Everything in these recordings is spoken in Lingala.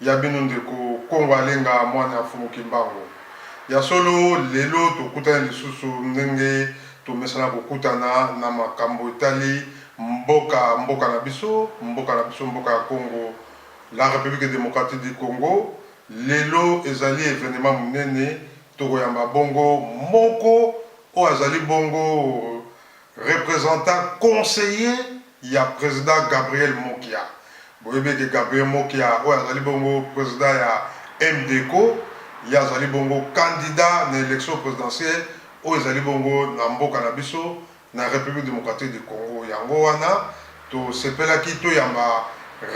Ya bino ndeko Kongo Alenga mwana ya Mfumu Kimbangu. Ya solo, lelo tokutani lisusu ndenge tomesana kokutana na makambo etali mboka, mboka na biso, mboka na biso, mboka ya Kongo, la Republique Democratique du Congo. Lelo ezali evenement monene, tokoyamba bongo moko oyo azali bongo. Representant conseiller ya president Gabriel Mokia. Boyebi ete Gabriel Mokia oyo azali bongo president ya MDECO, ye azali bongo candidat na election presidentielle oyo ezali bongo na mboka na biso na Republique democratique du Congo. Yango wana. Tosepelaki toyamba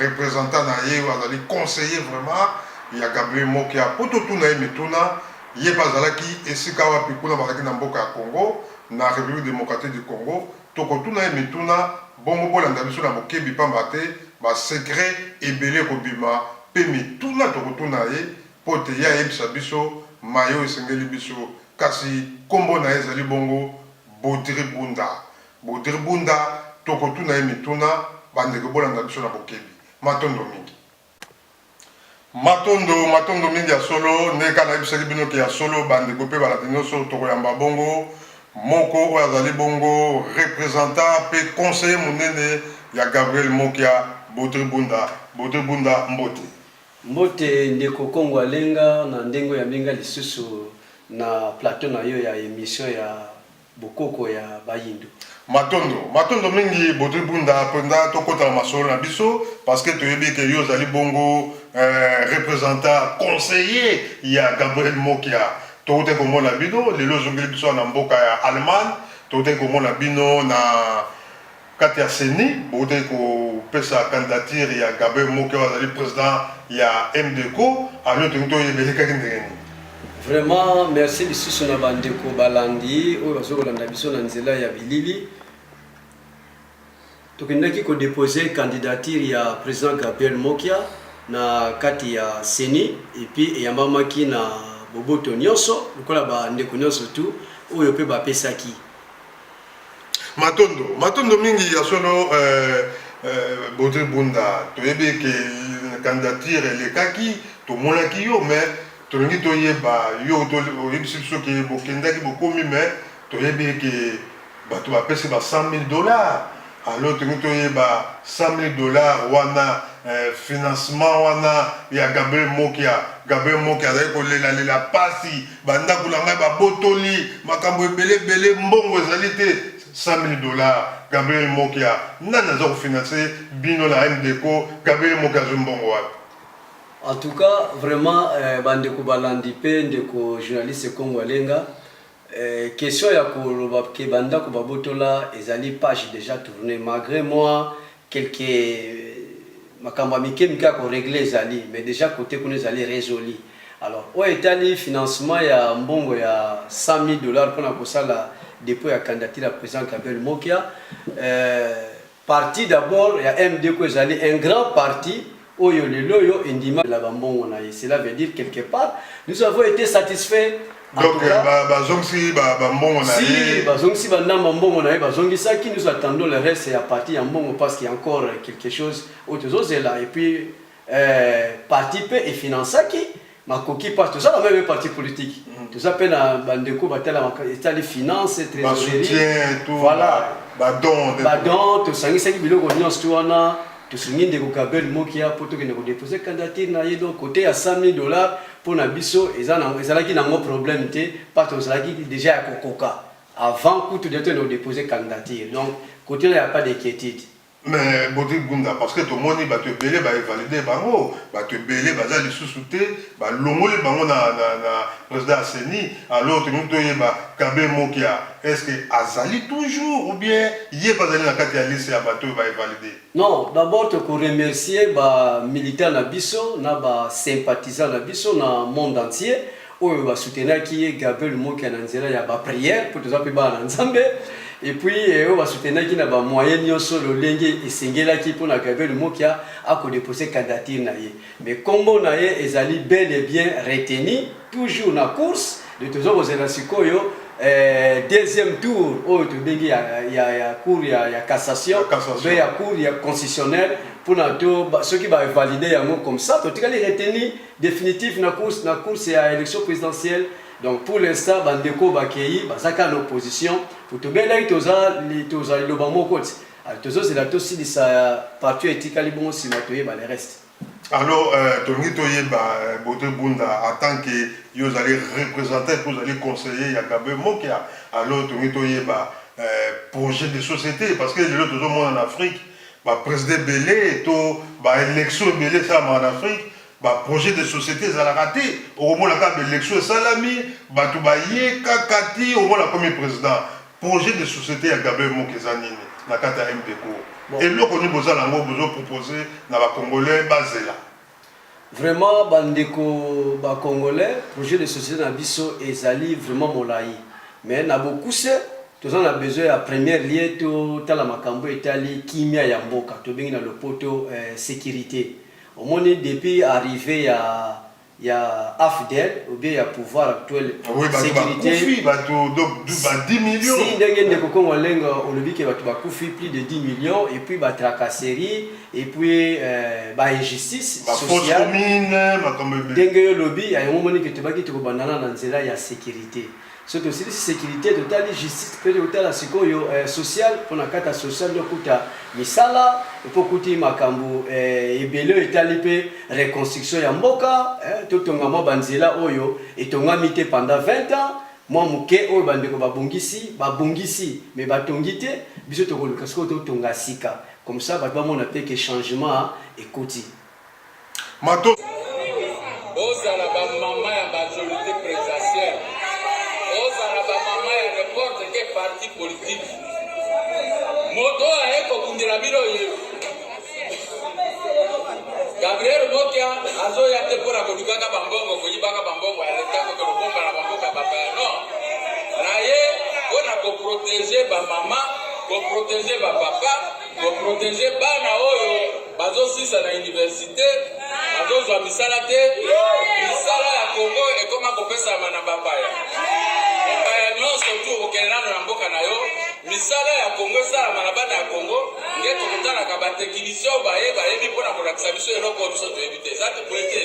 representant na ye oyo azali conseiller vraiment ya Gabriel Mokia mpo totuna ye mituna. Ye mpe azalaki esika wapi kuna bazalaki na mboka ya Congo, na Republique democratique du Congo. Tokotuna ye mituna, bongo bolanda biso na bokebi pamba te ba secrets ebele ekobima mpe mituna tokotuna ye mpo ete ye ayebisa biso maye oyo esengeli biso. Kasi kombo na ye ezali bongo Bodry Bunda. Baudry Bunda tokotuna ye mituna ba ndeko bolanda biso na bokebi matondo mingi. Matondo matondo mingi ya solo nde ka nayebisaki bino ke ya solo ba ndeko pe balandi nioso tokoyamba bongo moko oyo azali bongo representant pe conseiller munene ya Gabriel Mokia Baudry Bunda Baudry Bunda mbote. Mbote ndeko Kongo Alenga na ndenge oyambi nga lisusu na plateau na yo ya emission ya. bokoko ya bayindo. Matondo matondo mingi bodri bunda mpenza tokota na masolo na biso parce que toyebi ke yo ozali bongo eh, representant conseiller ya Gabriel Mokia tokotaki komona bino lelo ozongeli biso na mboka ya Allemagne tokotaki komona bino na Kati ya ceni, bowutaki kopesa candidature ya Gabriel Moke oyo azali president ya MDECO, alors tolingi toyeba elekaki ndenge nini? Vraiment merci lisusu na ba ndeko balandi oyo bazo kolanda biso na nzela ya bilili. Tokendaki ko deposer candidature ya president Gabriel Mokia na kati ya CENI et puis eyambamaki na boboto nyonso lokola ba ndeko nyonso tout oyo pe bapesaki. matondo matondo mingi ya solo euh, euh, bodri bunda toyebi ke candidature elekaki tomonaki yo mais tolingi toyeba yo oyebisi biso ke bokendaki bokomi mais toyebi ke bato bapesi ba 100 000 dollars alors tolingi toyeba 100 000 dollars wana eh, financement wana ya gabriel mokia gabriel mokia azali kolelalela mpasi Bandako na ngai babotoli, makambo ebele ebele, mbongo ezali te. 100.000 dollars, Gabriel Mokia, nani aza ko financer bino na MDECO? Gabriel Mokia azwi mbongo wapi? En tout cas vraiment eh, bandeko balandi pe ndeko journaliste Kongo Alenga eh, question ya koloba ke bandako babotola ezali page déjà tourne malgré moi Quelque makambo ya mike mike ya ko regler ezali mais dejà cote kuna ezali resoli. Alors oyo etali financement ya mbongo ya 100.000 dollars pona kosala depot ya candidature ya president Gabriel Mokia, euh, parti d'abord ya MDCO ezali un grand parti oyo lelo yo endima la bambongo na ye cela veut dire quelque part nous avons été satisfaits donc bazongisi bambongo na ye bazongisi bandambo mbongo na ye bazongisaki nous attendons le reste ya parti ya mbongo parce qu'il y a encore quelque chose oyo tozozela et puis euh, parti mpe efinansaki makoki parce toza na meme parti politique mm. toza mpe na bandeko batalamaka etali finance trésorerie voilà badon badon tosangisaki biloko nyonso to wana tosungi ndeko gabriel mokia mpo tokende kodepose candidature na ye donc kote ya 100 000 dollars mpo na biso ezalaki nango problème te mpa tozalaki déjà ya kokoka avant kutu de tokende kodepose candidature donc kote na ya pas d'inquiétude Mais Bodri Gunda parce que tomoni batu ebele ba evalider bango, batu ebele baza lisusu te, ba longoli bango na na na president ya ceni, alors tolingi toyeba Gabe Mokia est ce que azali toujours ou bien ye pe azali na kati ya liste ya batu oyo ba evalider? Non d'abord toko remercier ba militants na biso na ba sympathisants na biso na monde entier oyo ba soutenaki ye Gabriel Mokia na nzela ya ba prière mpo toza mpe bana na Nzambe et puis eh, oyo ba soutenaki na ba moyen nyonso lolenge esengelaki mpo na Gabriel Mokia akodepose candidature na ye mais nkombo na ye ezali bel et bien retenu toujours na course de toza kozela sikoyo eh, deuxième tour oyo tobengi ya, ya, ya cour ya, ya cassation mpe ya cour ya constitutionnelle mpo na to soki bavalide yango comme ça totikali retenu definitif na course na course ya election presidentielle donc pour l'instant ba ndeko ba keyi baza ka na opposition pour to belaki toza to za loba moko ti ah, to zo zela to silisa partout etikali bongo sima to yeba le reste alors euh, to ngi to yeba euh, bote bunda en tant que yo zali représentant pour zali conseiller ya Gabriel Mokia alors to ngi to yeba euh, projet de société parce que lelo to zo mona en Afrique Ba president ebele to ba election ebele esalamaka na Afrique, ba projet de societe ezalaka te, okomona kaka ba election esalami, batu baye kaka ti omona akomi president. Projet de societe ya Gabriel Moko eza nini na kati ya MPCO? Eloko nini boza na yango bozo proposer na ba congolais bazela? Vraiment ba ndeko ba congolais projet de societe na biso ezali vraiment molayi mais na bokuse toza na besoin ya première lieu to tala makambo etali kimia ya mboka tobengi na lopoto eh, securite omoni depuis arrive ya ya afdel ou bien ya pouvoir actuel Oui, bato securite bakufi, bato donc du- ba 10 millions. si ndenge ndeko kongo alenga olobi ke bato bakufi plus de 10 millions et puis ba tracasserie et puis euh, ba injustice sociale ndenge yo lobi ya yango moni que tobaki tokobandana na nzela ya sécurité so tosilisi sécurité totali justice mpe totala sikoyo euh, sociale mpo na kata sociale nde okuta misala mpo okuti makambo euh, ebele oyo etali mpe reconstruction ya mboka eh, totonga mwa banzela oyo etongami te pendant 20 ans mwa moke oyo bandeko babongisi babongisi me batongi te biso tokoluka sikoyo totonga sika Comme ça batu bamona pe que changement ekoti. Matos. Bozala ba maman ya majorite presidentielle. Bozala ba maman ya n'importe quel parti politique. Moto oyo aye kobundela bino ye. Gabriel Mokia azoya te mpo na kolukaka bambongo, koyibaka bambongo ya leta, koke kobomba na bamboka bapaya. Non, na ye mpo na koprotege bamama Bo proteger ba papa, bo proteger bana oyo bazo sisa na universite, bazo zwa misala te. Misala ya Congo ekoma kopesama na bapaya. Bapaya nyonso tu okende nano na mboka na yo, misala ya Congo esalama na bana ya Congo, nde tokotalaka ba techniciens oyo baye bayebi mpo na kolakisa biso eloko oyo biso toyebi te. Eza te boye te?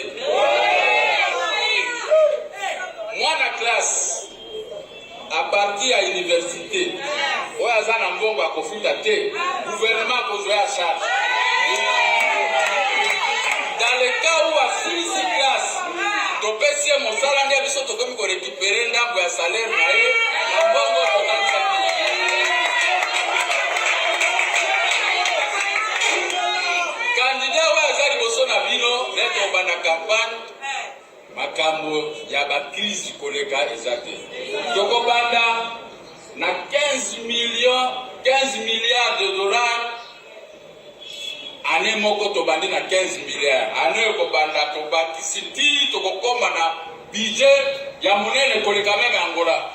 Mwana classe A partir ya universite oyo aza na mbongo ya kofuta te, gouvernement akozwa ya charge. Dans le cas où asilisi classe, topesi ye mosala nde biso tokomi korekipere ndambo ya salaire na ye na mbongo totalisaki. Kandida oyo aza liboso na bino neti obanda kampagne Makambo ya ba crise koleka eza te. Tokobanda na 15 millions 15 milliards de dollars année moko tobandi na 15 milliards année ekobanda tobakisi ti tokokoma na budget ya monene koleka meme Angola.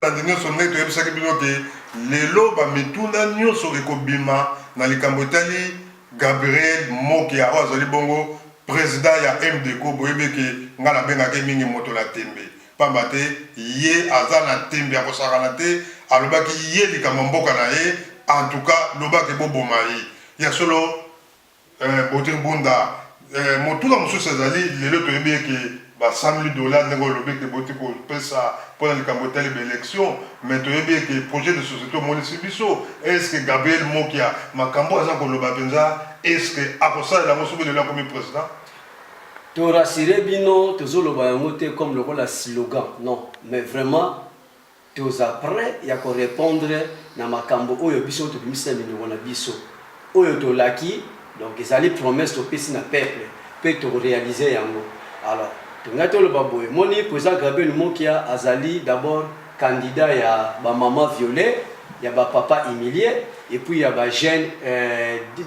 Bandi nionso ngai toyebisaki bino ke lelo ba mituna nionso ekobima na likambo etali Gabriel Mokia oyo azali bongo president ya MDCO. Boyebi ke ngai nabengaka ye mingi moto na tembe pamba te ye aza na tembe ya kosakana te. Alobaki ye likambo ya mboka na ye en tout cas loba ke boboma ye ya solo. Eh beaute bunda eh motuna mosusu ezali lelo toyebi eke ba 100 mille dollars ndenge olobi eke boti kopesa pona likambo etali ba election mais toyebi eke projet de societe omonisi biso est ce que Gabriel Mokia makambo oyo aza koloba penza est ce que akosalela yango soki lelo akomi president? To rassurer bino tozoloba yango te comme lokola slogan non mais vraiment Toza pret ya ko repondre na makambo oyo biso tobimisi na minoko na biso. Oyo tolaki donc ezali promesse topesi na peuple mpe toko realiser yango. Alors tolingai toloba boye, omoni President Grabiel Mokia azali d'abord candidat ya ba mamans violees, ya ba papas humilies et puis ya ba jeunes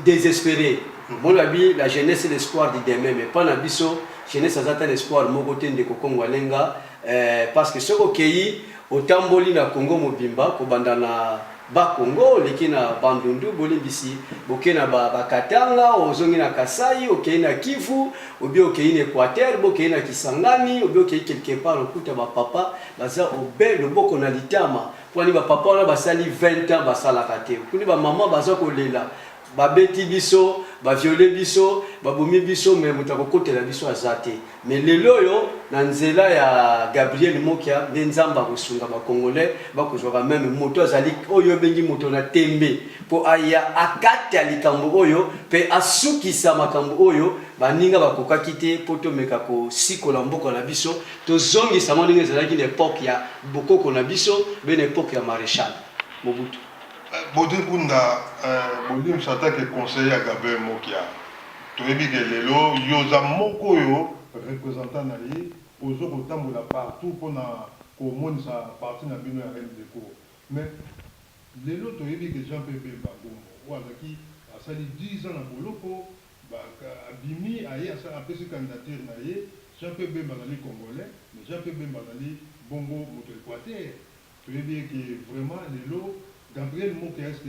desesperes. Omoni balobi la jeunesse est l'espoir du demain mais epai na biso jeunesse aza ata na espoir moko te ndeko Kongo Alenga. Eeh parce que soki okeyi otamboli na Congo mobimba kobanda na Bas Congo oleki na Bandundu bolimbisi boke na ba Katanga ozongi na Kasaï okeyi na Kivu ou bien okeyi na Equateur bo okeyi na Kisangani ou bien okeyi quelque part okuta ba papa baza obe loboko na litama pwani ba papa wana basali 20 ans basalaka te okundi ba maman baza kolela Ba beti biso, ba violer biso, ba bomi biso mais moto ako kotela biso aza te. Mais lelo oyo na nzela ya Gabriel Mokia nde Nzambe ako sunga ba congolais ba ko zua ka meme moto azali oyo yo bengi moto na tembe po aya a kata likambo oyo pe a sukisa makambo oyo baninga ba kokaki te po to meka ko sikola mboka na biso to zongisa yango ndenge ezalaki na epoque ya bokoko na biso be na epoque ya Marechal Mobutu. Beaute Kunda euh bolimbisa ata ke conseille ya Gabriel Mokia toyebi ke lelo yo oza moko oyo representant na ye ozo kotambola partout pona komonisa parti na bino ya Remdeco mais lelo toyebi ke Jean Pierre Bemba Gombo oyo azalaki asali 10 ans na boloko ba abimi aye asali apesi candidature na ye Jean Pierre Bemba azali congolais mais Jean Pierre Bemba azali bongo moto ya Equateur Toyebi ye ke vraiment lelo Gabriel Mokia est ce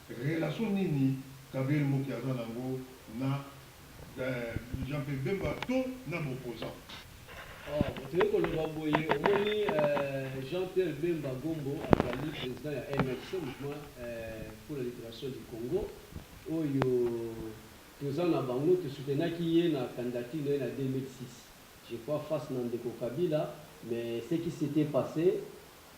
que relation nini Gabriel Mokia aza nango na Jean Pierre Bemba to na ba opposants? Or toye koloba boye omoni Jean Pierre Bemba Gombo azali president ya MLC, Mouvement pour la liberation du Congo, oyo toza na bango to soutenaki ye na candidature na ye na 2006. Je crois face na ndeko Kabila mais ce qui s'etait passe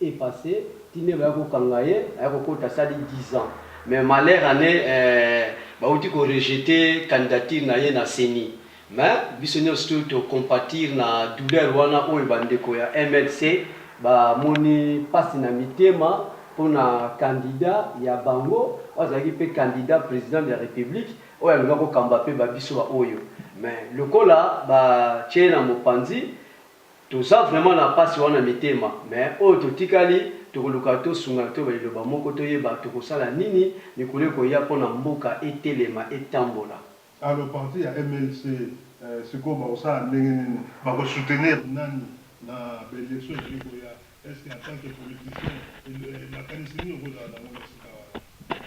est passe ti nde baya ko kanga ye aya ko kota asali dix ans mais malheur en est ba wuti ko rejete candidature na ye na ceni mais biso nionso to compatir na douleur wana oyo ba ndeko ya mlc ba moni pasi na mitema pona candidat ya bango oyo azalaki pe candidat president de la republique Oyo aluka ko kamba pe ba biso ba oyo mais lokola ba tie ye na mopanzi toza vraiment na pasi wana mitema mais oyo to tikali toko luka to sungana to ba liloba moko to yeba toko sala nini mikolo eko ya pona mboka e telema e tambola. Alors parti ya MLC sikoyo bakosala ndenge nini? Bako soutenir nani na ba elections ezali koya? Est ce que en tant que politicien makanisi nini okozala na yango na esika wana?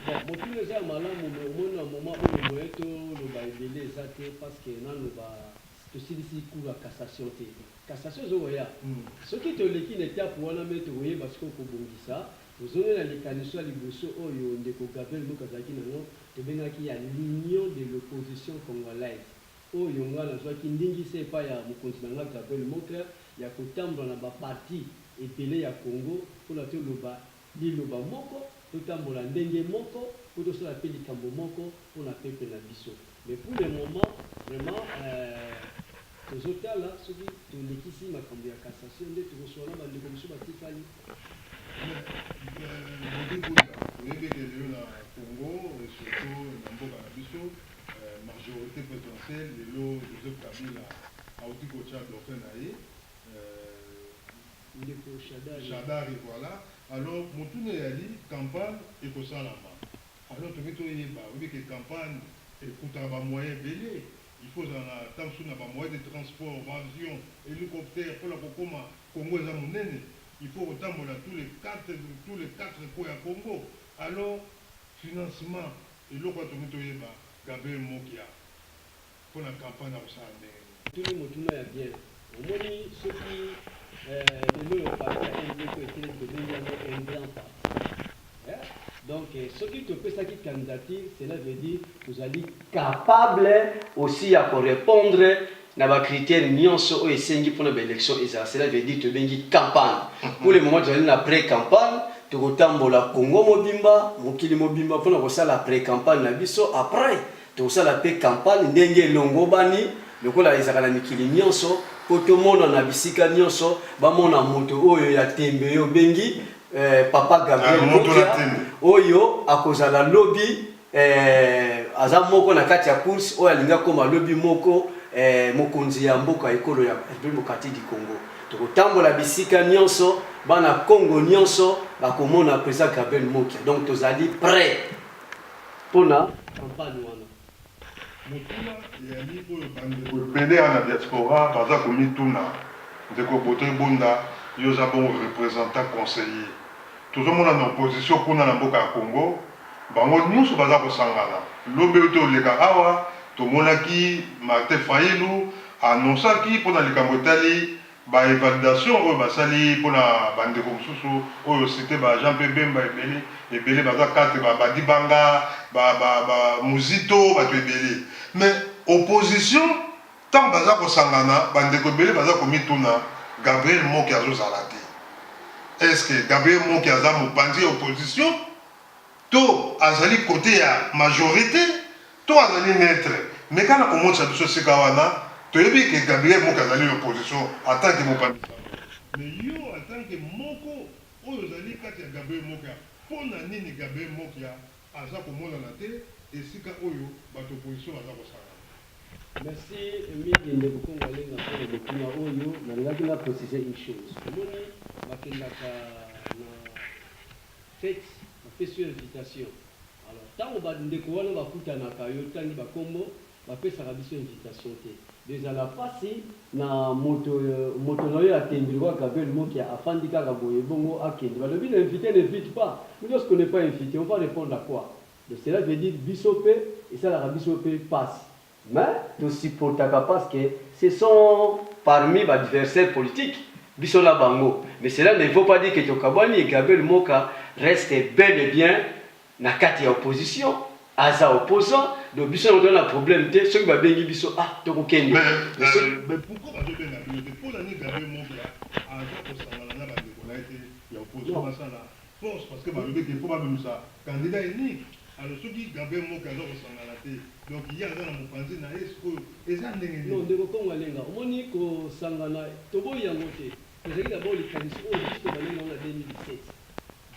Bon motuna eza ya malamu mais omoni na moment oyo moyen to loba ebele eza te parce que nanu ba tosilisi cour ya cassation te cassation ezo koya soki toleki na etape wana mais toko yeba sikoyo ko bongisa ozongi na likanisi ya liboso oyo ndeko Gabriel Muke azalaki na yango tobengaki ya l'union de l'opposition congolaise oyo ngai nazwaki ndingisa epai ya mokonzi na ngai Gabriel Mockler ya kotambola na ba parti ebele ya Congo mpo na toloba liloba moko, totambola ndenge moko mpo tosala mpe likambo moko mpo na peuple na biso. Mais pour le moment vraiment eh, tozotala soki tolekisi makambo ya cassation nde tokosolola na bandeko mosusu batikali. Mbote mbote, toyebi ete lelo na Congo et surtout na mboka na biso, Majorite presidentielle lelo Joseph Kabila awuti kotia dauphin na ye ndeko Shadary voila alors motuna eyali campagne ekosalama alors tolingi toyeba oyebi ke campagne ekutaka ba moyen ebele il faut ozala na tango mosusu na ba moyen de transport ba avion helicoptère pona kokoma Congo eza monene il faut kotambola tous les 4 coin ya Congo alors financement Eloko oyo tolingi toyeba Gabriel Mokia mpo na campagne akosala ndenge nini? Otuni motuna ya bien. Omoni soki lelo oyo parti ya MD mpo etelemi tobengi yango un grand parti eh donc soki topesaki candidature cela veut dire tozali capable aussi ya ko repondre na ba critères nionso oyo esengi mpo na ba elections ezala, cela veut dire tobengi campagne, pour le moment tozali na pre-campagne, tokotambola Congo mobimba, mokili mobimba mpo na kosala pre-campagne na biso, après tokosala mpe campagne ndenge elongobani lokola ezalaka na mikili nionso mpo tomonana bisika nionso, bamona moto oyo ya tembe oyo obengi Papa Gabriel Bokya oyo akozala lobi. Eh, aza moko na kati ya course oyo alingi akoma lobi moko eh, mokonzi ya mboka ekolo ya République démocratique du Congo. Tokotambola bisika nyonso, bana Congo nyonso bakomona président Gabriel Mokia. Donc tozali prêt pona campagne wana. Motuna eyali oyo bandeko ebele ya na diaspora baza komituna, ndeko Bote Bunda, yo oza bongo representant conseiller Tozo mona na opposition kuna na mboka ya Congo bango nionso baza kosangana lobi ewuti oleka awa tomonaki Martin Fayilu a annoncaki pona likambo etali ba evalidation oyo basali pona ba ndeko mosusu oyo o cite ba Jean Pierre Bemba ebele ebele baza karte ba ba Dibanga ba ba ba Muzito batu ebele mais opposition Tango baza kosangana, ba ndeko ebele baza komituna Gabriel Moki azozala te? Est ce que Gabriel Moki aza mopanzi ya opposition? To azali cote ya majorite? To azali neutre? Meka na komonisa biso esika wana toyebi que Gabriel Moki azali na opposition en tant que mopanzi sango. Mais yo en tant que moko oyo ozali kati ya Gabriel Mokia, pona nini Gabriel Mokia? Aza komonana te esika oyo batu ya opposition baza kosangana. Merci mingi ndeko Kongo Alenga mpo na motuna oyo. Nalingaki na preciser une chose. Omoni bakendaka na fete, bapesi yo invitation, alors tango ba ndeko wana bakutanaka, yo otangi ba kombo, Ba pesaka biso invitation te. Ezala pasi na moto moto na yo ya tendrewaa Gabriel mokia afandi kaka boye bongo akende balobi le invite n'invite pas mais lorsque on n'est pas invite on va repondre à quoi donc cela veut dire biso pe esalaka biso pe pasi mais to supportaka parce que ce sont parmis ba adversaires politiques biso na bango mais cela ne veut pas dire que tokabwani et Gabriel moka reste bel et bien na kati ya opposition aza opposant donc biso yango toza na problème te soki ba bengi biso ah toko kende mais soki Mais pourquoi bazo benga bino te pona nini Gabriel Mosla aza kosangana na ba ndeko naye te ya opposition basala force parce que balobi ke faut babimisa candidat unique alors soki Gabriel Mokla aza kosangana te donc ye aza na mopanzi naye sikoyo eza ndenge nini? Non ndeko Kongo Alenga omoni kosangana toboyi yango te. Tozali na oyo likanisi oyo biso tobandaki na yango na 2017.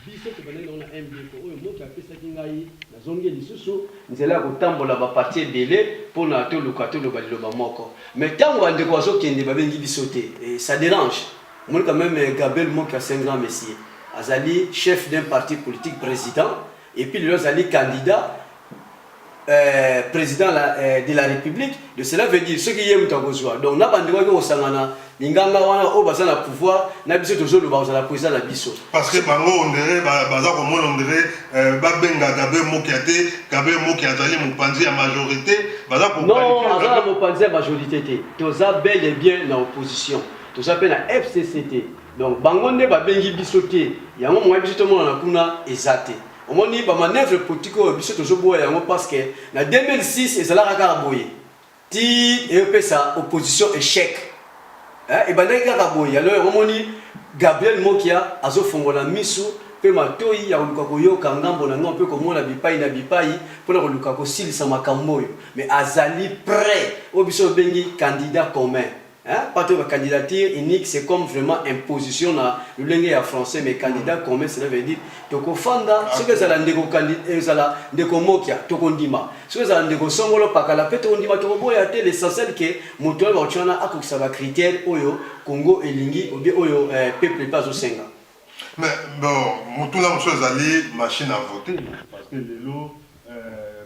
Biso tobandaki na yango na MBECO oyo moto apesaki ngai, nazongi lisusu nzela ya kotambola ba partie ebele pona toluka toloba liloba moko mais tango ba ndeko bazo kende ba bengi biso te et ça derange. Omoni quand meme Gabriel Mokia c'est un grand monsieur azali chef d'un parti politique president et puis lelo azali candidat. Euh, président la, euh, de la république de cela veut dire soki ye moto akozwa donc na bandeko yaki kosangana minganga wana oyo baza na pouvoir na biso tozoloba kozala président na biso parce que bango ondire baza komona ondire euh, babenga gabriel mokia te gabriel mokia azali mopanzi ya majorité baza non aza na mopanzi ya majorité te toza bel et bien na opposition toza mpe na fcc te donc bango nde babengi biso te yango moya biso tomonana kuna eza te Omoni ba manœuvres politiques oyo biso tozo boya yango parce que na 2006 ezalaka kaka boye ti eyopesa opposition echec eh, ebandaki kaka boye. Alors yango omoni Gabriel Mokia azo fongola misu pe matoyi ya koluka koyoka ngambo na ngambo pe komona bipai na bipai pona koluka kosilisa makambo oyo, mais azali près oyo biso tobengi candidat commun. Hein? Pas ba candidature unique, c'est comme vraiment imposition na lolenge ya français, mais candidat commun, cela veut dire toko fanda, ce que ça la ndeko candidat, euh, ça la ndeko mokia, toko ndima, ce que ça la ndeko songolo pakala, pe toko ndima, toko boya te, l'essentiel que motoya ba chwana akokisa ba critères oyo Congo elingi, ou bien oyo euh, peuple pas au senga. Mais bon, motuna mosusu ezali machine à voter parce que lelo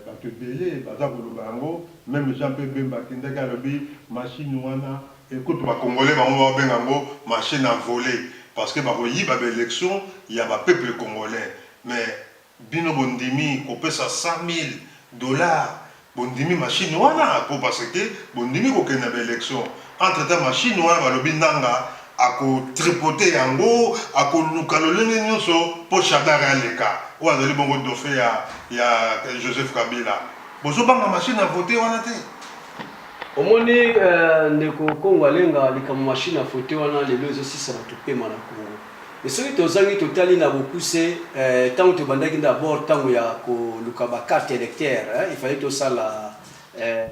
bato ebele baza koloba yango meme jean pe bemba akendaki alobi machine wana ekutu ba congolais bango babenga yango machine à voler parce que bakoyiba ba elections ya ba peuples congolais mais Bino bondimi kopesa 100.000 dollars bondimi machine wana po parce que bondimi kokende na ba elections entre temps machine wana balobi Nanga ako tripoter yango akoluka lolenge nionso po Shadary aleka oyo azali bongo dauphin ya ya Joseph Kabila bozo banga machine à voter wana te? Omoni ndeko Kongo Alenga likambo machine à voter wana lelo ezo silisa batu pema na Kongo. Et soki tozangi totali na bokuse eh, tango tobandaki d'abord tango ya koluka ba carte électeur eh, il fallait tosala eh,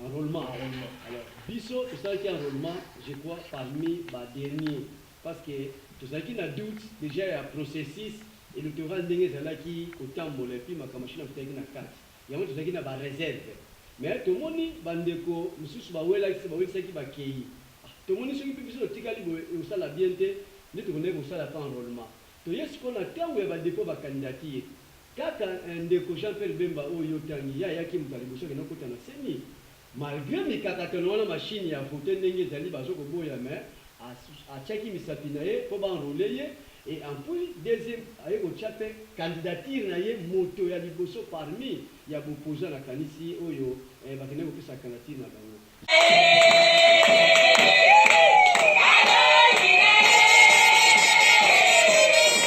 enrôlement enrôlement alors biso tosalaki enrôlement je crois parmi ba dernier parce que tozalaki na doute dejà ya processus electoral ndenge ezalaki kotambola et puis makambo machine akutaki na kati Yango tozalaki na ba reserves mais tomoni ba ndeko misusu ba welaki bawelisaki bakeyi ah tomoni soki pe biso totikali boye ekosala bien te nde tokendaki kosala pe enrolement toye sikoyo na tango ya ba depot ya ba candidature kaka eh ndeko Jean Pierre Bemba oyo yo otangi ye ayaki moto ya liboso akendaki kokota na ceni Malgre mikakatano wana machine ya vote ndenge ezali bazo koboya mais atiaki misapi na ye po ba enroler ye et en puis deuxième aye kotia pe candidature na ye moto ya liboso parmi ya b'opposants na kanisi oyo bakendaki kopesa candidature na bango.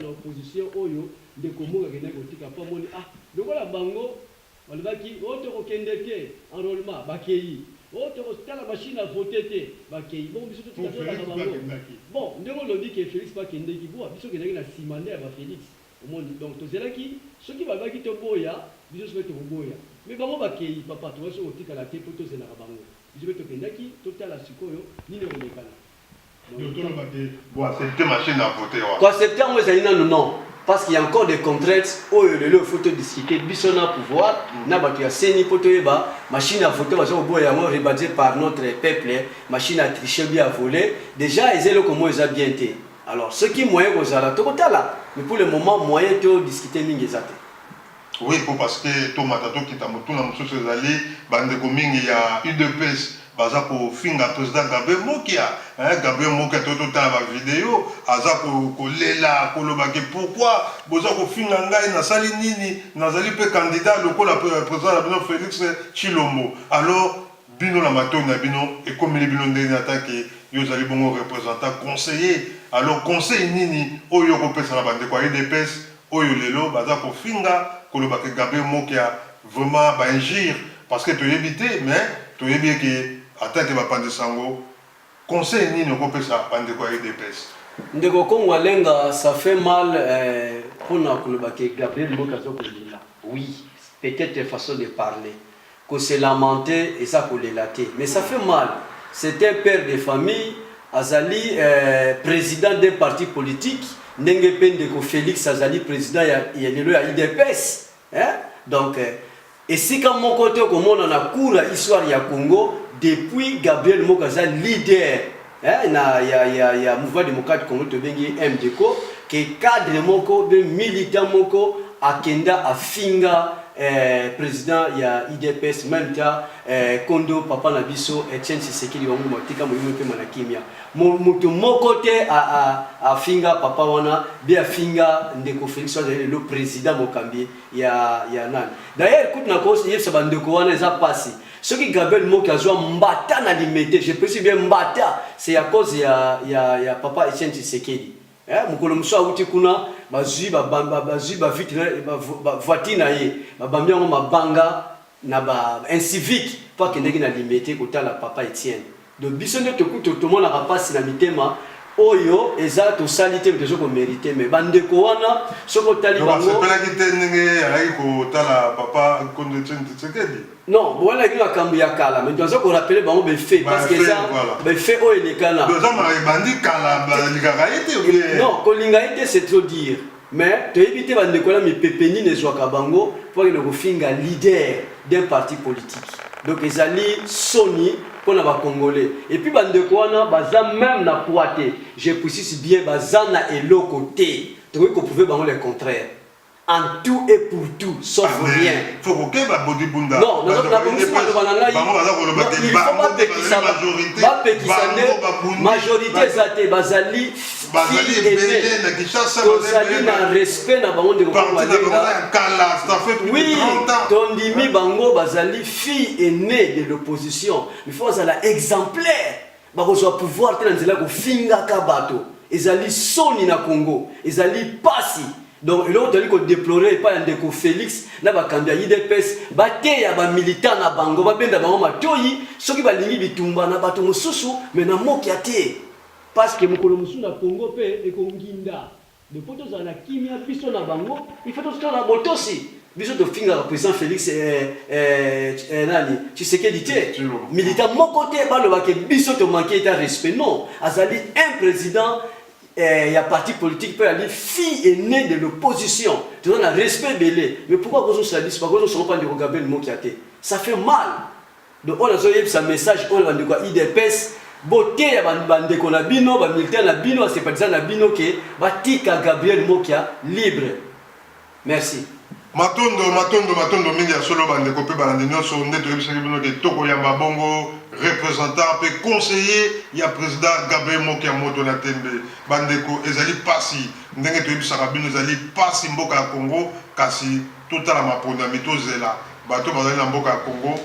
na opposition oyo ndeko Muka akendaki kotika mpo amoni ah lokola bango balobaki o oh, tokokende te enrollement bakei o oh, tokotala mashine ya vote te bakei bongo biso totika tolaka bango bon ndenge olobi ke Felix mpe akendeki boa biso okendaki na nsima nde ya ba Felix omoni donc tozelaki soki balobaki toboya biso soki tokoboya me bango bakei papa tokasi kotikala te mpo tozelaka bango biso mpe tokendaki totala sikoyo nini ekolekana Bo accepter machine à voter wana. Ko accepter yango ezali nanu non parce qu'il ya encore des contraintes oyo lelo il faut to discuter biso na pouvoir na batu ya ceni po toyeba machine à voter baza koboya yango rebadger par notre peuple machine à tricher ou bien à voler dejà eza eloko moko eza bien te alors soki moyen ekozala tokotala mais pour le moment moyen to discuter mingi eza te. Oui po parce que tomata tokita motuna mosusu ezali ba ndeko mingi ya udps baza kofinga president Gabriel mokia hein Gabriel mokia to totala ba video aza ko kolela koloba ke pourquoi boza kofinga ngai nasali nini nazali pe candidat lokola president na bino Felix Tshilombo alors bino na matoyi na bino ekomeli bino ndenge nini ata ke yo ozali bongo representant conseiller alors conseil nini oyo yo okopesa na ba ndeko ya udps Oyo lelo baza kofinga koloba ke Gabriel Mokia vraiment ba injures parce que toyebi te mais toyebi ye ke ata ke bapanzi sango conseil nini oko pesa ba ndeko ya udps? Ndeko Kongo Alenga ça fait mal pona koloba ke Gabriel Mokia azo ko lela oui peut etre façon de parler Ko se lamenter eza kolela te mais ça fait mal, c'est un père de famille azali president d'un parti politique ndenge pe ndeko Felix azali president ya lelo ya udps hein donc esika moko te okomona na cours ya histoire ya Congo depuis Gabriel Moko aza leader eh, na ya, ya, ya mouvement démocrate congo tobengi mdco ke cadre moko be militant moko akenda afinga eh, président ya idps même ta eh, kondo papa na biso etienne sisekeli bango matika molimo mpema na kimia moto moko te afinga papa wana be afinga ndeko félix azali lelo président mokambi ya, ya nani d'ailleurs kutu na koyebisa bandeko wana eza mpasi soki gabriel moki azwa mbata na limete je précise bien mbata c'est à cause ya, ya, ya papa etienne tshisekedi eh, mokolo mosusu awuti kuna bazwi bazwi bavoitire na ye babambi yango mabanga na ba incivique mpo akendeki na limete kotala papa etienne Donc biso nde tokuto tomonaka pasi na mitema oyo eza tosali te tozo ko merite mais ba ndeko wana soko tali bango donc asepelaki te ndenge alaki kotala papa Nkondo Etienne Tshisekedi non wana ki makambo ya kala mais toza ko rappeler bango ba effet parce que eza ba effet oyo elekana donc eza ma ebandi kala balingaka ye te non kolinga ye te c'est trop dire Mais toyebi te ba ndeko wana mipepe nini ezwaka bango mpo bakende kofinga leader d'un parti politique. Donc ezali soni mpo na ba congolais. Et puis ba ndeko wana baza meme na poids te. Je precis bien baza na eloko te. Tokoki ko prouver bango le contraire en tout et pour tout sauf ah, rien. Faut ko keba bodi bunda. Non, na na bongi sima loba na ngai. Bango baza ko loba te. Il faut ba pekisa ba pekisa nde majorité ezate bazali bazali ebele na Kinshasa, tozali na respect na bango ndeko oui, tondimi bango bazali fille aînée de l'opposition, il faut azala exemplaire, bakozwa pouvoir te na nzela kofingaka bato, ezali soni na Congo, ezali pasi donc eloko tozali kodeplore epai ya ndeko félix na bakambi ya idps bateya bamilitant na bango babenda bango matoi soki balingi bitumba na bato mosusu me na mokia te Parce que mokolo mosusu na Congo pe eko nginda mais po tozala na kimia biso na bango il faut totikala na botosi biso tofingaka president Felix eh, eh, eh, nani Tshisekedi te militant moko te baloba ke biso to manque ta respect non azali un président eh, ya parti politique pe ali fille aînée de l'opposition toza na respect ebele mais pourquoi kozosala biso bakozosolopa ndeko Gabriel Mokia te ça fait mal Donc oyo nazo yebisa message oyo na bandeko ya IDPS boteya bandeko na bino ba militaire na bino basepatisa na bino ke batika Gabriel Mokia libre merci matondo matondo matondo mingi ya solo bandeko mpe balandi nyonso nde toyebisaki bino ke tokoyamba bongo représentant mpe conseiller ya président Gabriel Mokia moto na tembe bandeko ezali pasi ndenge toyebisaka bino ezali pasi mboka ya Congo kasi totala maponami tozela Bato bazali na mboka ya Congo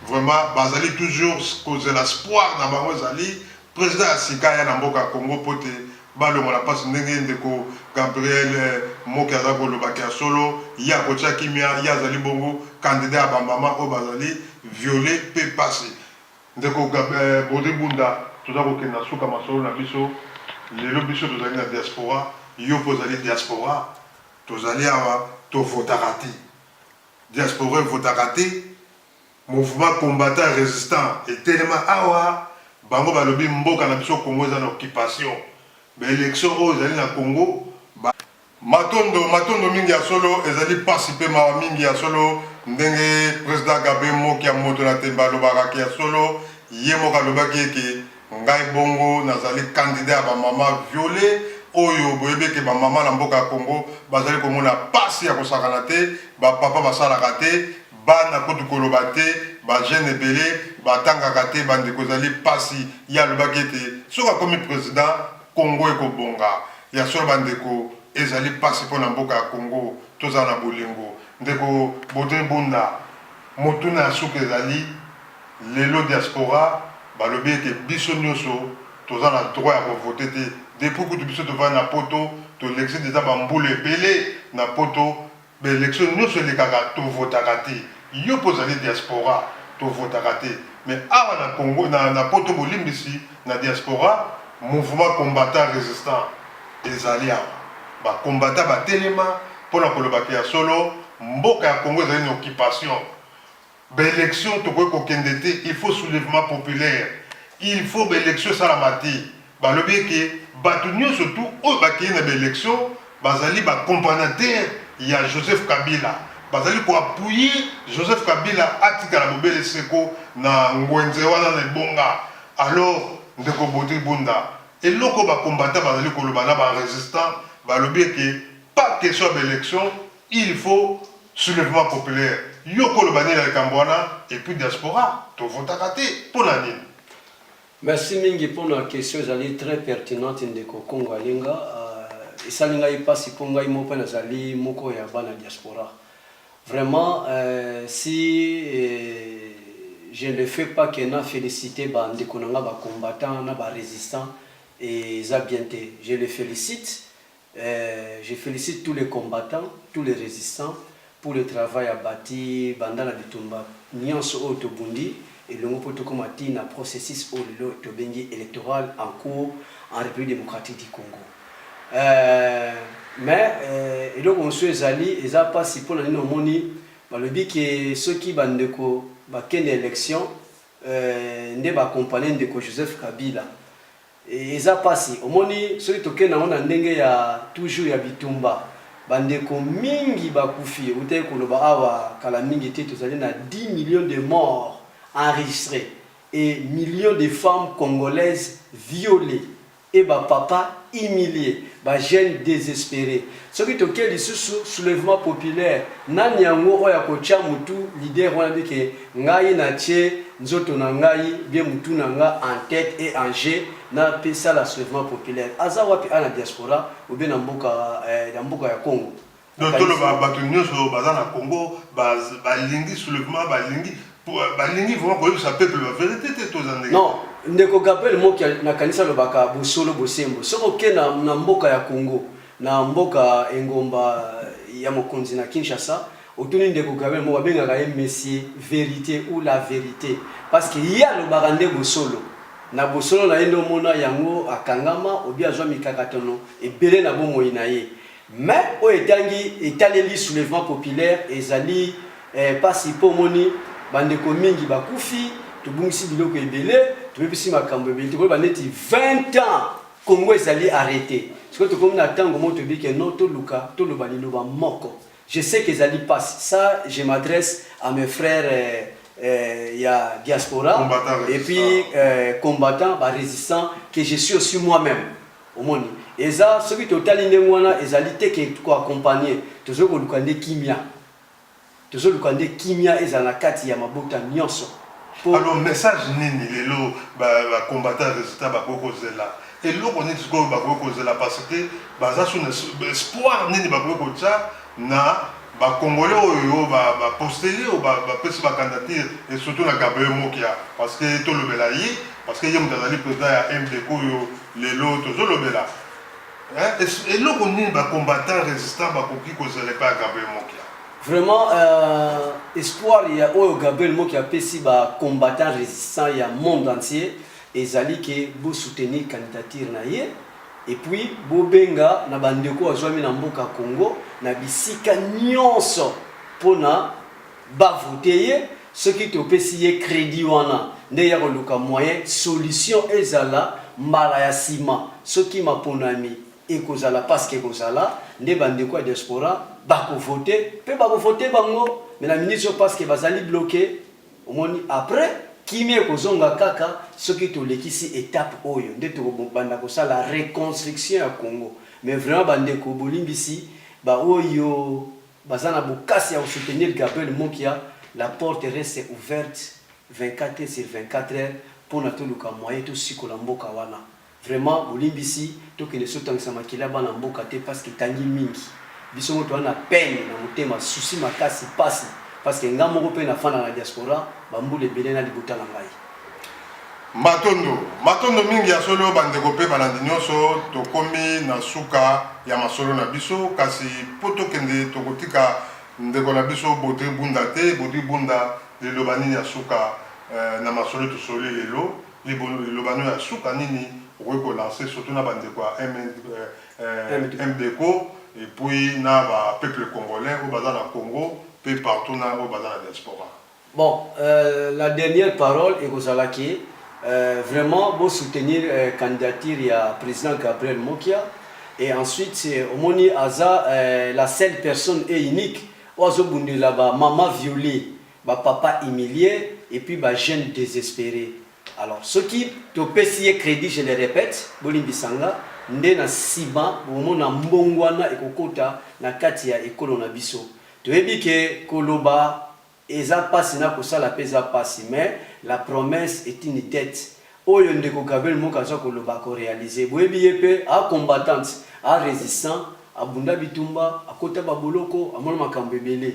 vraiment bazali toujours kozela spoir na bango ezali president ya sika aya na mboka ya Congo mpo te balongola pasi ndenge ndeko Gabriel Moke azali koloba ke ya solo ye akotia kimia ye azali bongo candidat ya ba mama oyo bazali viole mpe pasi ndeko Brodrick Bunda toza kokende na suka masolo na biso lelo biso tozali na diaspora yo mpe ozali diaspora tozali awa tovotaka te. Diaspora evotaka te, mouvement combattant resistant etelema awa, bango balobi mboka na biso Congo eza na occupation, ba elections oyo ezali na Congo ba. Matondo, matondo mingi ya solo, ezali pasi pe mawa mingi ya solo ndenge President Gabe Mokia moto na tembe alobaka ke ya solo ye moko alobaki eke Ngai bongo nazali candidat ya ba maman viole oyo boyebi ke ba maman na mboka ya Congo bazali komona pasi ya kosakana te, ba papa basalaka te, bana kutu koloba te, ba jeune ebele batangaka te bandeko ezali pasi, ye alobaki ete soki akomi president Congo ekobonga, ya solo bandeko ezali pasi pona mboka ya Congo tozala na bolingo. Ndeko Baudry Bunda, motuna ya suka ezali. Lelo diaspora balobi ete biso nioso toza na droit ya ko voter te depuis kutu biso tovandi na poto tolekisi dejà ba mbula ebele na poto ba election nioso elekaka tovotaka te yo pe ozali diaspora tovotaka te mais awa na congo na poto bolimbisi na diaspora mouvement combattant resistant ezali awa ba combattant batelema pona koloba ke ya solo mboka ya congo ezali na occupation. Ba elections tokoki kokende te il faut soulevement populaire il faut ba elections esalama te balobi eke batu nionso tout oyo bakeyi na ba elections bazali ba companataires ya Joseph Kabila bazali ko appuyer Joseph Kabila atikala bobele seko na nguenze wana na ebonga alors ndeko Bodri Bunda eloko ba combattants bazali koloba na ba resistants balobi eke pas question ya ba elections Il faut soulevement populaire yo oko loba nini na likambo wana et puis diaspora to votaka te pona nini? Merci mingi pona question ezali très pertinente ndeko Kongo Alinga esali ngai pasi po ngai moko pe nazali moko ya bana diaspora vraiment si je ne fais pas que na felicite ba ndeko na ngai ba combattants na ba resistants eza bien te je les felicite Eeh je felicite tous les combattants, tous les resistants pour le travail abati banda na bitumba nionso oyo tobundi elongo mpo tokoma tii na processus oyo lelo tobengi electoral en cours en Republique democratique du Congo. Eeh mais eeh eloko mosusu ezali eza pasi mpo na nini omoni balobi ke soki ba ndeko bakende election eeh nde ba accompagner ndeko Joseph Kabila. Eza pasi omoni soki tokei nango na ndenge ya toujours ya bitumba ba ndeko mingi ba kufi ewutaki koloba awa kala mingi te tozali na 10 millions de morts enregistres et millions de femmes congolaises violees et ba papa humilies ba jeunes desesperes Soki toke lisusu soulevement populaire nani yango oyo akotia mutu leader wana dit que ngai na tie nzoto na ngai bien mutu na nga en tete et en jeux na pe sala soulevement populaire aza wapi a na diaspora ou bien na mboka eh na mboka ya Congo Donc toloba batu nioso baza na Congo ba balingi soulevement balingi balingi vraiment koyebisa peuple ba verite te to eza ndenge nini? Non ndeko Gabriel Mokia na kanisi alobaka bosolo bosembo soki oke na na mboka ya Congo Na mboka engomba ya mokonzi na Kinshasa, otuni ndeko Gabriel moko abengaka ye monsieur verite ou la verite parce que ye alobaka nde bosolo. Na bosolo na ye nde omona yango akangama ou bien azwa mikakatano ebele na bomoi na ye. Mais oyo etangi etaleli soulevement populaire ezali pasi mpo omoni ba ndeko mingi bakufi, tobungisi biloko ebele, tobebisi makambo ebele, tokoyeba neti 20 ans Congo ezali arrete sikoyo tokomi na tango moko toyebi ke non toluka toloba liloba moko je sais ke ezali pasi sa je m'adresse à mes frères eh, eh, ya diaspora et puis eh, combattant ba resistant que je suis aussi moi même omoni eza soki totali ndenge wana ezali te ke ko accompagner tozo koluka nde kimia Tozoluka nde kimia ezala na kati ya mabota nionso po. Alors message nini lelo ba combattants ya resultats bakoki kozela? Eloko nini sikoyo bakoki kozela parce que baza sous espoir nini bakoki kotia na ba congolais oyo ba posteli oyo bapesi ba candidature et surtout na Gabriel Mokia parce que tolobela ye parce que ye mutu azali president ya MDECO oyo lelo tozolobela. Hein? Eloko nini ba combattants résistants bakoki kozela epai ya Gabriel Mokia? Vraiment euh, espoir ya oyo Gabriel Mokia apesi ba combattants résistants ya monde entier ezali ke bo soutenir candidature na ye et puis bobenga na bandeko azwami na mboka Congo na bisika nyonso mpona Ba vote ye soki topesi ye credit wana nde ya koluka moyen solution ezala mbala ya sima soki maponami ekozala parceque ekozala nde ba ndeko ya diaspora bako vote pe bako vote bango mais na minute oyo parceque bazali bloque omoni apres kimia ekozonga kaka soki tolekisi etape oyo nde toko banda kosala reconstruction ya congo mais vraiment ba ndeko bolimbisi ba oyo Baza na bokasi ya ko soutenir Gabriel Mokia, la porte reste ouverte 24 heures sur 24 heures pona toluka moyen tosikola mboka wana. Vraiment bolimbisi tokende so tangisa makila ya bana mboka te parce que etangi mingi. Biso moko toza na peine na motema, souci makasi, pasi parce que nga moko pe nafanda na diaspora ba mbula ebele na libota na ngai. Matondo, matondo mingi ya solo ba ndeko pe balandi nionso, tokomi na suka ya masolo na biso kasi po tokende tokotika ndeko na biso Bodri Bunda te, Bodri Bunda liloba nini ya suka na masolo tosololi lelo, liloba no ya suka nini okoki ko lancer surtout na ba ndeko ya MDCO et puis na ba peuples congolais oyo baza na Congo pe partout na oyo baza na diaspora. Bon la dernière parole ekozala ke vraiment bo soutenir candidature ya president Gabriel Mokia et ensuite omoni aza la seule personne et unique oyo azobundela ba maman viole ba papa humilie et puis ba jeune desespere alors soki topesi ye credit je le repète bolimbisa nga nde na sima bokomona mbongwana ekokota na kati ya ekolo na biso toyebi ke koloba Eza pasi n'a kosala pe eza pasi mais la promesse est une dette oyo ndeko Gabriel Moka aza koloba ako realiser boyebi ye pe a combattant a resistant abunda bitumba akota ba boloko amona makambo ebele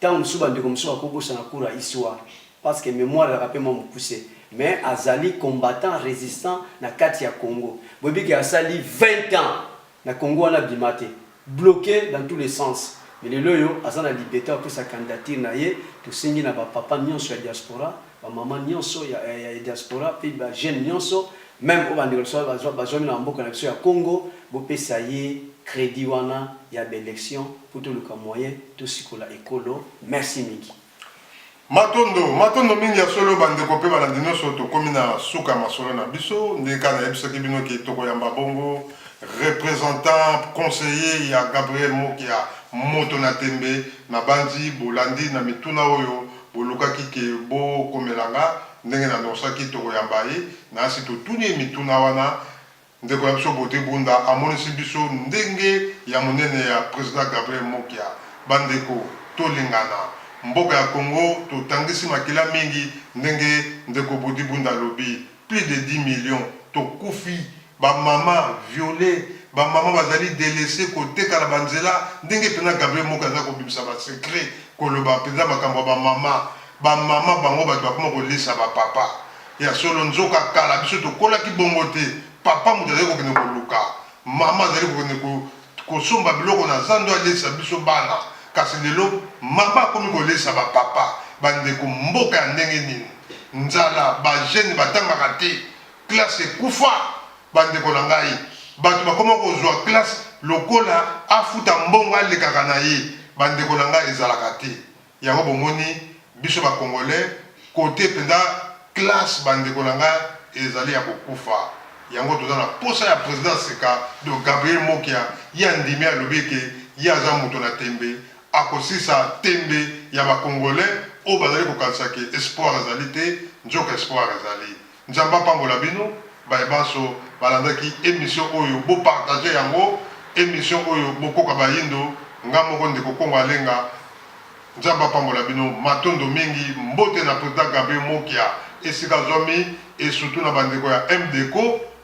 tango mosusu ba ndeko mosusu bako bosana cours ya histoire parce que memoire ezalaka pe mwa mokuse mais azali combattant resistant na kati ya Congo boyebi ke asali 20 ans Na Congo wana abima te. Bloque dans tout le sens. Mais lelo oyo aza na libete ya kopesa candidature na ye. Tosengi na ba papa nionso ya diaspora, ba mama nionso ya diaspora pe ba jeune nionso meme oyo ba ndeko na biso bazuami na ba mboka na biso ya Congo bopesa ye credit wana ya ba elections po toluka moyen tosikola ekolo. Merci mingi. Matondo, matondo mingi ya solo ba ndeko pe balandi nionso, tokomi na suka ya masolo na biso ndenge kaka nayebisaki bino ke tokoyamba bongo representant conseiller ya Gabriel Mokia moto na tembe, nabanzi bolandi na mituna oyo bolukaki ke bokomela nga, ndenge na annoncaki tokoyamba ye, nasi totuni ye mituna wana. Ndeko na biso Beaute Bunda amonisi biso ndenge ya monene ya President Gabriel Mokia. Bandeko, tolingana. Mboka ya Congo totangisi makila mingi ndenge ndeko Beaute Bunda alobi, plus de 10 millions tokufi, ba maman violes, ba maman bazali delaisses, koteka na ba nzela, ndenge penza Gabriel Mokia aza kobimisa ba secrets, koloba penza makambo ya ba maman, ba maman bango bato bakoma kolisa ba papa. Ya solo, nzoka kala biso tokolaki bongo te, papa moto azali kokende koluka, mama azali kokende ko, kosomba biloko na zando alesa biso bana. Kasi lelo, mama akomi kolesa ba papa. Bandeko, mboka ya ndenge nini? Nzala, ba jeunes batangaka te, classe ekufa. Bandeko na ngai, bato bakoma kozua classe lokola afuta mbongo alekaka na ye. Bandeko na ngai, ezalaka te. Yango bomoni biso ba congolais cote penza classe ba ndeko na nga ezali ya kokufa yango toza na posa ya president sika donc Gabriel Mokia ye andimi alobi eke ye aza moto na tembe akosisa tembe ya ba congolais oyo bazali kokanisa ke espoir ezali te nzoka espoir ezali Nzambe apambola bino baye banso balandaki emission oyo bo partager yango emission oyo bokoka bayindo nga moko ndeko kongo alenga Nzambe apambola bino matondo mingi mbote na president Gabriel Mokia esika azwami et surtout na bandeko ya MDECO